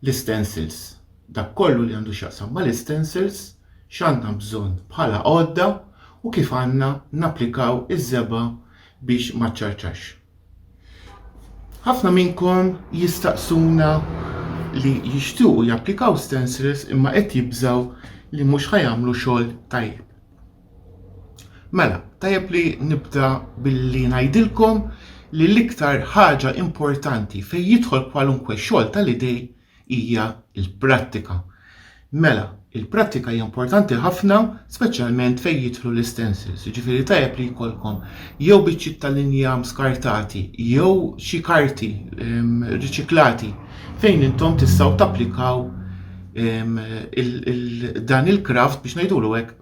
l-istencils, dak kollu li għandu x'jaqsam mal-istencils, x'għandna bżonn bħala għodda u kif għandna napplikaw iż-żebgħa biex ma ċċarċax. Ħafna minnkom jistaqsuna li jixtiequ japplikaw stencils imma qed jibżgħu li mhux ħa jagħmlu xogħol tajjeb. Mela, tajjeb li nibda billi ngħidilkom li l-iktar ħaġa importanti fejn jidħol kwalunkwe xogħol tal-idej hija l-prattika. Mela, il-prattika hija importanti ħafna, speċjalment fejn jidħlu l-istensils, jiġifieri tajjeb li jkollkom jew biċċiet ta' linja skartati jew xi karti ehm, riċiklati fejn intom tistgħu tapplikaw ehm, dan il-kraft biex ngħidulu hekk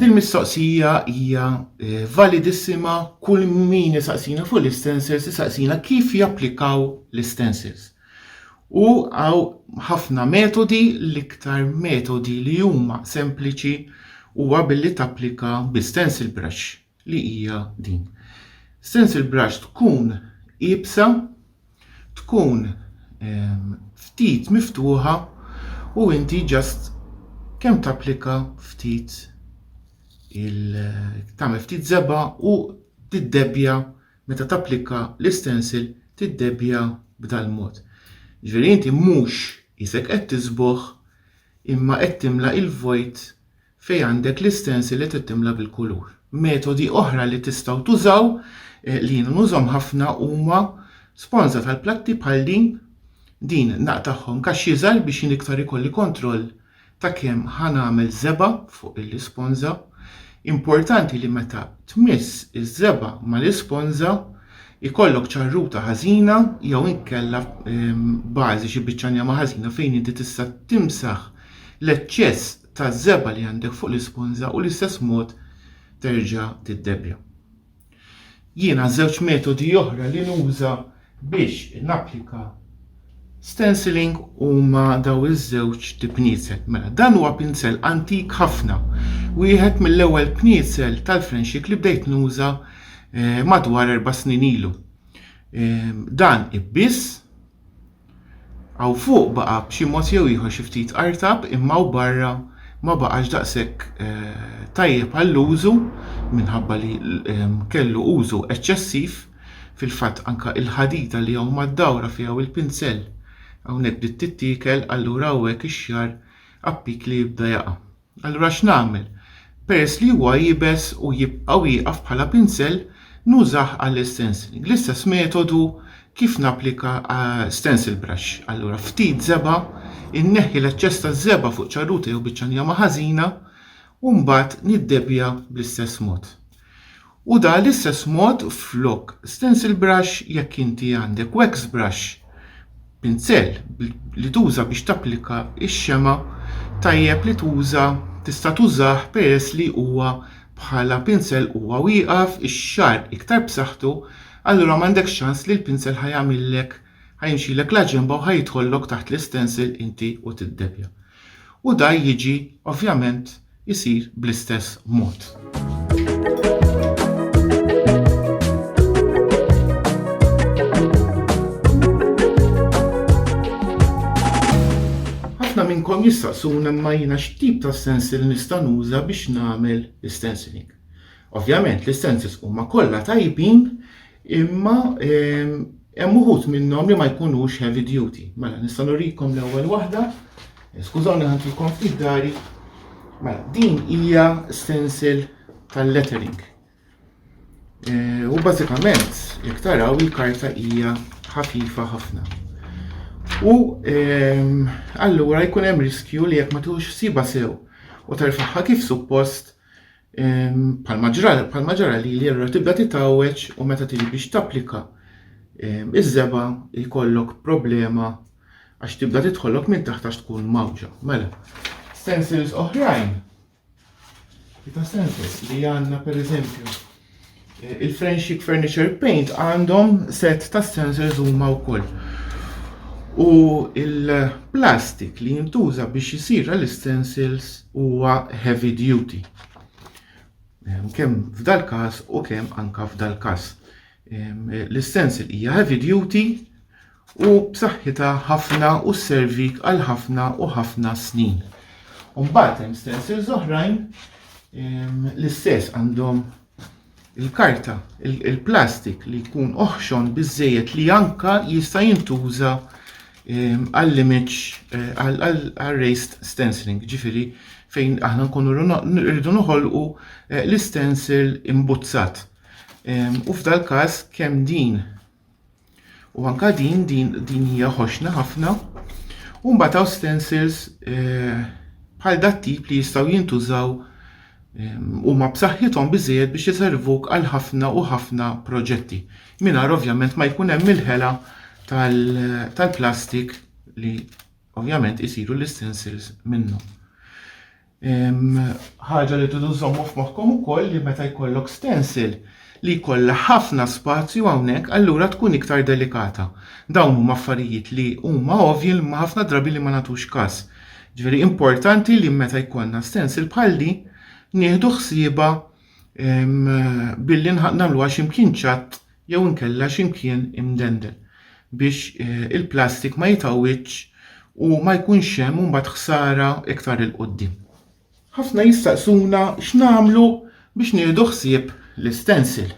Din mistoqsija hija eh, validissima kull min isaqsina fuq l-istensers isaqsina kif japplikaw l-istensers. U għaw ħafna metodi l-iktar metodi li huma sempliċi huwa billi tapplika bi stencil brush. li hija din. Stencil brush tkun iebsa, tkun ehm, ftit miftuħa u inti ġast kemm tapplika ftit il tagħmel ftit zeba u tiddebbja meta tapplika l-istensil tiddebbja b'dal-mod. Ġifieri inti mhux isek qed tiżbogħ imma qed timla il-vojt fejn għandek l-istensil li trid timla bil-kulur. Metodi oħra li tistgħu tużaw, li jien nużhom ħafna huma sponża tal-platti bħal din, din naqtagħhom kaxx iżgħar biex jien iktar ikolli kontroll ta' kemm ħa nagħmel żebgħa fuq l-isponża. Importanti li meta tmiss iż-żebgħa mal-isponża ikollok ċarruta ħażina jew inkella bażi xi biċċa njama ħażina fejn inti tista' timsaħ l-eċċess taż-żebgħa li għandek fuq l-isponża u l-istess mod terġa' tiddebbja. Jien għaż-żewġ metodi oħra li nuża biex napplika stenciling huma daw iż-żewġ tipniezel. Mela dan huwa pinzell antik ħafna, wieħed mill-ewwel pniezel tal-frenxik li bdejt nuża eh, madwar erba' snin ilu. Eh, dan ibbiss Hawn fuq baqa' b'xi mod jew ieħor xi ftit artab imma hawn barra ma baqax daqshekk tajjeb għall-użu minħabba li kellu użu eċċessiv. Fil-fatt anke l-ħadida li hawn mad-dawra fiha u l-pinsell hawnhekk bdiet tittiekel allura hawn hekk ix-xagħar appikli jibda jaqa'. Allura x'nagħmel? Peress li huwa iebes u jibqa' wieqaf bħala pinsel, nużah għall-istenciling. L-istess metodu kif napplika stencil brush. Allura ftit żebgħa, inneħħi l-eċċess taż-żebgħa fuq ċarruta jew biċċa njama ħażina u mbagħad niddebja bl-istess mod. U da l-istess mod flok stencil brush jekk inti għandek wax brush, pinzell, li tuża biex tapplika x-xemgħa tajjeb li tuża tista' tużah peress li huwa bħala pinzell huwa wieqaf ix-xagħar iktar b'saħħtu allura m'għandekx ċans li l-pinzell ħa jagħmillek ħa jimxilek la ġenba u ħa jidħollok taħt l-istencil inti u tiddebja. U da jiġi ovvjament isir bl-istess mod. Ħafna minnkom jistaqsuna imma jiena x'tip ta' stencil nista' nuża biex nagħmel l-istenciling. Ovvjament l-istencils huma kollha tajbin Imma hemm uħud minnhom li ma jkunux heavy duty. Mela nista' nurikom l-ewwel waħda. Skużawni ħantilkom ftit dari. Mela din hija stencil tal-lettering. E, u bażikament jekk taraw il-karta hija ħafifa ħafna. U allura jkun hemm riskju li jekk ma tux siba sew u terfaħħa kif suppost Bħalma ġra, bħalma ġara li li allura tibda titgħawweġ u meta tiġi biex tapplika iż-żeba jkollok problema għax tibda tidħolok minn taħt għax tkun mawġa. Mela, stencils oħrajn, ta' stencils li għandna pereżempju Il-Friendship Furniture Paint għandhom set ta' sensors huma wkoll. U il-plastik li jintuża biex jisir l-stencils huwa heavy duty. Ehm, kemm f'dal każ u kemm anka f'dal każ. Ehm, l-stencil hija heavy duty u b'saħħitha ħafna u sservik għal ħafna u ħafna snin. U mbagħad hemm stencils oħrajn l-istess għandhom il-karta, il-plastik li jkun oħxon biżejjed li anka jista' jintuża għall-image eh, għall-raised stenciling, ġifiri fejn aħna nkunu rridu noħolqu eh, l-stencil imbuzzat. U f'dal każ kemm din U anka din, din, din hija ħoxna ħafna. U mbagħad hawn stencils eh, bħal dat tip li jistgħu jintużaw huma b'saħħithom biżejjed biex iservuk għal ħafna u ħafna proġetti. Mingħajr ovvjament ma jkun hemm il-ħela tal-plastik li ovvjament isiru l-istensils minnu. Ħaġa li tridu żommu f'moħħkom ukoll li meta jkollok stencil li jkollha ħafna spazju hawnhekk allura tkun iktar delikata. Dawn huma affarijiet li huma ovvji imma ħafna drabi li ma nagħtux każ. Ġifieri importanti li meta jkollna stencil bħal di nieħdu ħsiebha billi nagħmluha x'imkien ċatt jew inkella xi mkien imdendel biex il-plastik ma jitgħawwidx u ma jkunx hemm imbagħad ħsara iktar 'il quddiem. Ħafna jistaqsuna x'nagħmlu biex nieħdu ħsieb l-istensil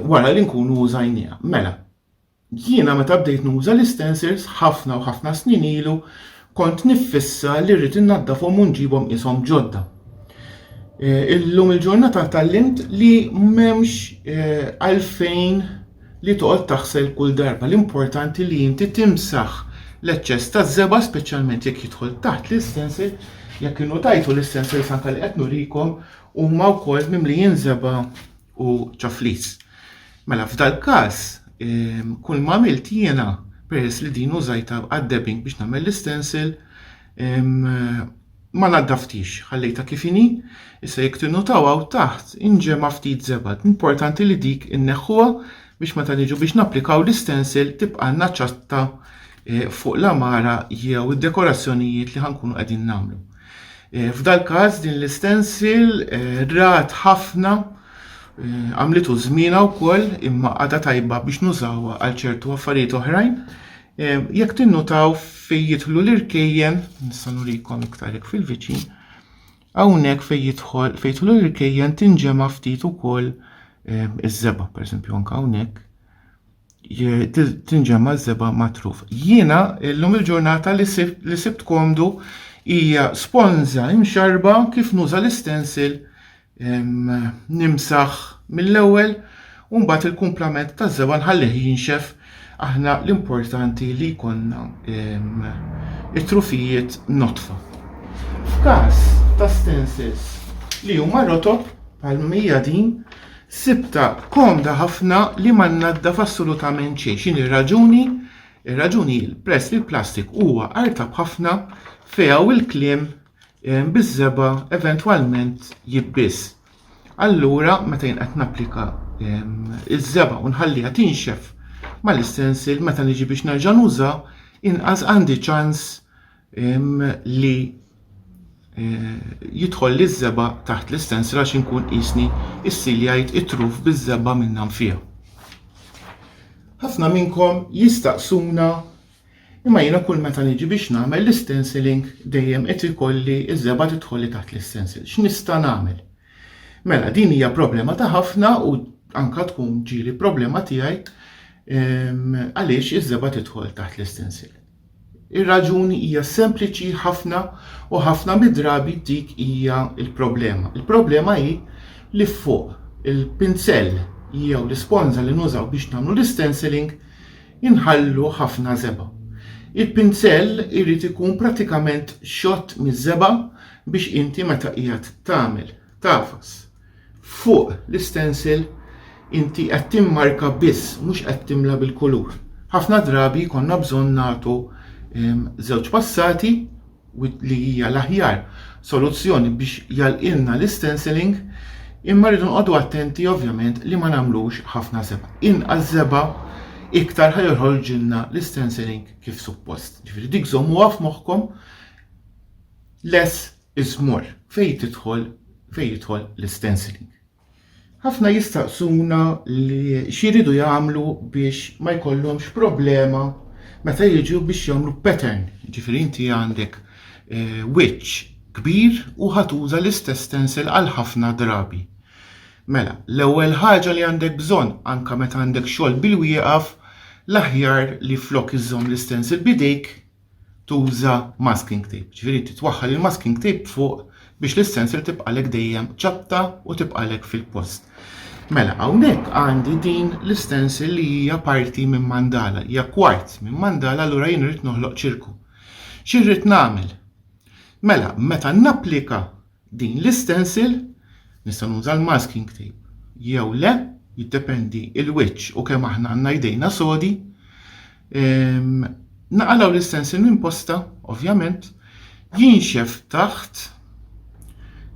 wara li nkunu użajniha. Mela, jiena meta bdejt nuża l-istensils ħafna u ħafna snin ilu, Kont niffissa li rrid innaddafhom u nġibhom qishom ġodda. Eh, illum il-ġurnata tallimt li m'hemmx eh, għalfejn li toqgħod taħsel kull darba. L-importanti li inti timsaħ l-eċċess ta' żeba speċjalment jekk jidħol taħt l-istensil, jekk innu tajtu l-istensil sanka li qed nurikom huma wkoll mimlijin żeba u ċaflis. Mela f'dal-każ, kull ma għamilt jiena peress li din użajtha għad-dabbing biex nagħmel l-istensil, ma naddaftix, ħallejtha kif inhi, issa jekk tinnutaw hawn taħt inġema' ftit żebad. Importanti li dik inneħħuha biex meta niġu biex napplikaw l-istensil tibqanna ċatta eh, fuq l-għamara jew id-dekorazzjonijiet li ħankunu qegħdin nagħmlu. F'dal-każ din l-istensil rat ħafna għamlitu żmienha wkoll imma għadha tajba biex nużawha għal ċertu affarijiet oħrajn. Jekk tinnutaw fejn jidħlu l-irkejjen, nista' nurikom iktar hekk fil-viċin, hawnhekk fejn jidħol fejn jidħlu l-irkejjen tinġema' ftit ukoll iż-żeba, pereżempju anke hawnhekk tinġemma żeba matruf. Jiena illum il-ġurnata li sibt li sibt komdu hija sponza imxarba kif nuża l-istensil nimsaħ mill-ewwel u mbagħad il-kumplament ta' żeba nħallih jinxef aħna l-importanti li jkollna it-trufijiet notfa. F'każ ta' stensils li huma rotob bħal mija din Sibtha komda ħafna li ma nnaddaf assolutament xejn. X'inhi r-raġuni? Ir-raġuni hi peress li l-plastik huwa artab ħafna fiha u l-kliem eh, biż-żebgħa eventwalment jibbiż. Allura meta jien qed napplika ehm, iż-żebgħa u nħalliha tinxef mal-istensil meta niġi biex nerġa' nuża, inqas għandi ċans li jidħol liż-żeba' taħt l-istensra għax inkun qisni issi li jgħid it-truf biż-żeba' minnha nfiha. Ħafna minnkom jistaqsuna imma jiena kull meta niġi biex nagħmel l-stenciling dejjem qed ikolli ż-żeba' tidħol li taħt l-istencil. X'nista' nagħmel? Mela din hija problema ta' ħafna u anka tkun ġieli problema tiegħi għaliex iż-żeba' tidħol taħt l-istencil. Ir-raġuni hija sempliċi ħafna u ħafna mid-drabi dik hija l-problema. Il-problema hi li fuq il-pinsell jew l-isponża li nużaw biex nagħmlu l-istenciling inħallu ħafna żebgħa. Il-pinsell irid ikun pratikament xott miż-żebgħa biex inti meta qiegħed tagħmel tafas Fuq l-istensil inti qed timmarka biss, mhux qed timla bil-kulur. Ħafna drabi jkollna bżonn nagħtu żewġ passati li hija l-aħjar soluzzjoni biex jagħlqilna l-istensiling imma rridu nqogħdu attenti ovvjament li ma nagħmlux ħafna żebgħa. Inqas żebgħa iktar ħa joħorġilna l-istensiling kif suppost. Ġifieri dik żommuha f'moħħkom less iżmorr fejn tidħol fejn jidħol l-istenciling. Ħafna jistaqsuna li x'jridu jagħmlu biex ma jkollhomx problema meta jiġu biex jagħmlu pattern, ġifieri inti għandek eh, wiċċ kbir u ħatuża l-istess stencil għal ħafna drabi. Mela, l-ewwel ħaġa li għandek bżonn anke meta għandek xogħol bil-wieqaf, l-aħjar li flok iżżomm l-istens il-bidejk, tuża masking tape, ġifieri titwaħħal il-masking tape fuq biex l-istensel tibqalek dejjem ċapta u tibqalek fil-post. Mela, hawnhekk għandi din l-istensel li hija parti minn mandala, hija kwart minn mandala allura jien rrid noħloq ċirku. Xi rrid nagħmel? Mela, meta napplika Din l-istensil, nista' nuża l-masking tape jew le, jiddependi il-wiċċ u kemm aħna għandna jdejna sodi. Naqalgħu l-istensil minn posta, ovvjament, jinxef taħt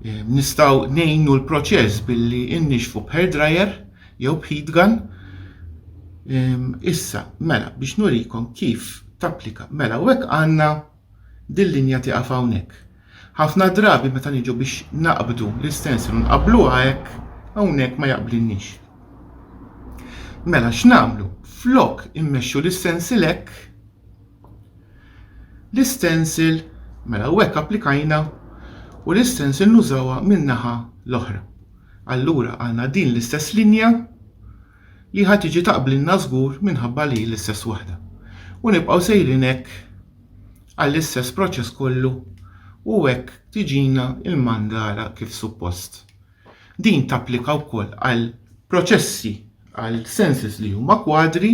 nistgħu ngħinu l-proċess billi innixfu b'hair dryer jew b'heat gun. Issa, mela, biex nurikom kif tapplika. Mela, u hekk għandna Dil-linja tieqaf hawnhekk. Ħafna drabi meta niġu biex naqbdu l-istensil u nqabbluha hekk, hawnhekk ma jaqblilniex. Mela x'nagħmlu? Flok immexxu l-istensil hekk, l-istensil, mela u hekk applikajna, u l-istensil nużawha min-naħa l-oħra. Allura għandna din l-istess linja, li ħa tiġi taqblilna żgur minħabba li hi l-istess waħda. U nibqgħu sejrin hekk għall-istess proċess kollu u hekk tiġina l-mandala kif suppost. Din tapplika wkoll għal proċessi għal senses li huma kwadri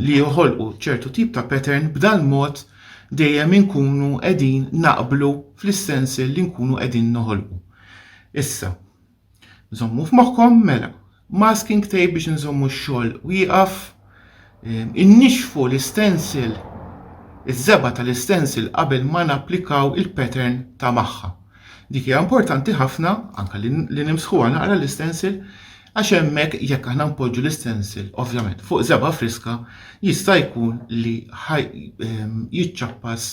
li joħolqu ċertu tip ta' pattern b'dal mod dejjem inkunu qegħdin naqblu fl-istensel li nkunu qegħdin noħolqu. Issa, Żommu f'moħħkom mela masking tape biex inżommu x-xogħol wieqaf, innixfu l-istensil, iż-żebgħa tal-istensil qabel ma napplikaw il-pattern ta' magħha. Dik hija importanti ħafna anke li nimsħuha naqra l-istensil għax hemmhekk jekk aħna npoġġu l-istensil ovvjament fuq żebgħa friska jista' jkun li jiċċappas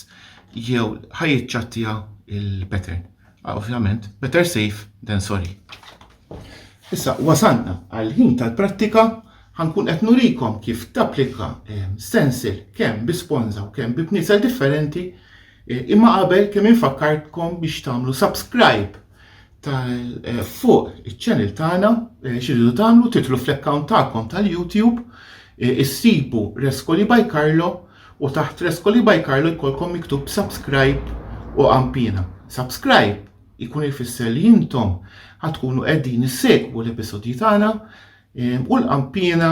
jew ħajjiċċattija l-pattern. Ah, ovvjament, better safe than sorry. Issa, wasalna għal-ħin tal-prattika ħankun qed nurikom kif tapplika eh, stencil kemm bi sponza u kemm bi bniesel differenti eh, imma qabel kemm infakkartkom biex tagħmlu subscribe eh, fuq iċ-channel tagħna xiridu tagħmlu titlu fl-account tagħkom tal-YouTube issibu Rescoli by Carlo U taħt Frescoli by Carlo jkollkom miktub subscribe u għampina. Subscribe jkun ifisser li intom ħa tkunu qegħdin issegwu l-episodji tagħna ehm, u l-qampina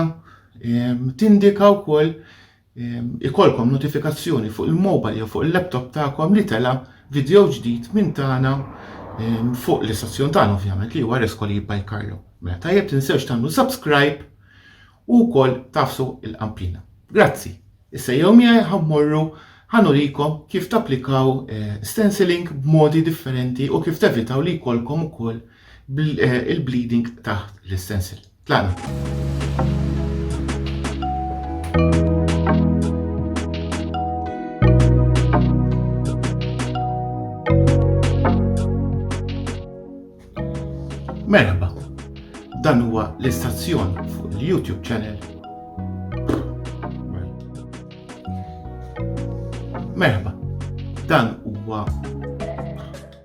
ehm, tindika wkoll ehm, ikolkom notifikazzjoni fuq il-mobile jew fuq il-laptop tagħkom li tela video ġdid minn tagħna fuq l-istazzjon tagħna ovvjament li huwa Rescoli by Carlo. Mela tajjeb tinsewx tagħmlu subscribe u wkoll taf suq il-Qanplina. Grazzi. Issa jew miegħi ħa mmorru ħa nurikom kif tapplikaw stenciling b'modi differenti u kif tevitaw li jkollkom ukoll il-bleeding taħt l-istencil. Tlaqna. Merħba, dan huwa l-istazzjon fuq il-YouTube channel. Merħba, dan huwa